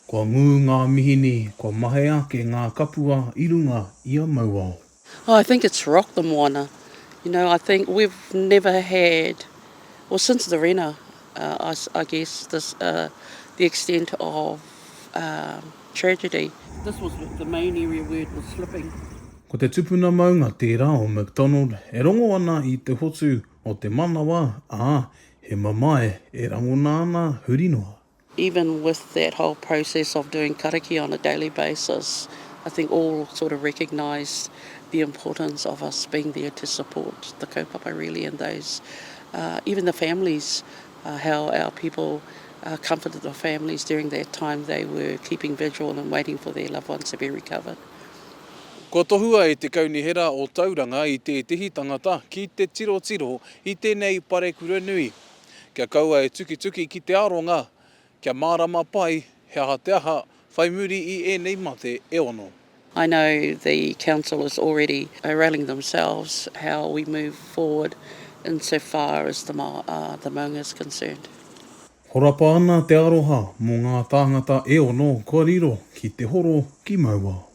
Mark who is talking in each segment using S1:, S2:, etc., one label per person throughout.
S1: Kua ngū ngā mihini, kua mahea ake ngā kapua i runga i a Mauao. Oh I think it's
S2: rocked the moana, you know I think we've never had, well since the Rena I guess this the extent of tragedy. This was the main area where it was slipping. Ko te tupuna
S1: maunga tērā o McDonald e rongo ana i te hotu o te manawa, ā, he mamae e rangona ana huri noa. Even with
S2: that whole process of doing karakia on a daily basis, I think all sort of recognise the importance of us being there to support the kaupapa really and those, even the families, how our people comforted the families during that time they were keeping vigil and waiting for their loved ones to be recovered. Kua
S1: tohua e te Kaunihera o Tauranga i tētehi tangata ki te tirotiro i tēnei parekura nui kia kaua e tukituki ki te aronga kia mārama pai he aha te aha whai muri i ēnei mate e ono. I know
S2: the council is already rallying themselves how we move forward in so far as the maunga is concerned. Horapa
S1: ana te aroha mō ngā tāngata e ono kua riro ki te horo ki Mauao.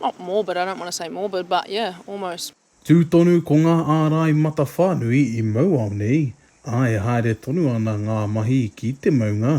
S3: Not morbid, I don't want to say morbid, but yeah, almost. Tū tonu ko
S1: ngā ārai matawhānui i mau ao nei, ā, e haere tonu ana ngā mahi ki te maunga,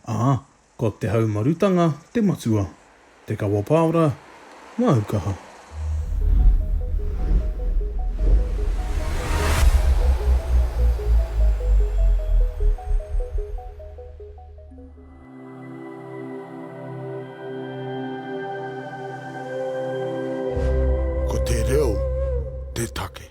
S1: ā, ko te haumarutanga te matua, te kawapaora, ngā ukaha. Ko te reo te take.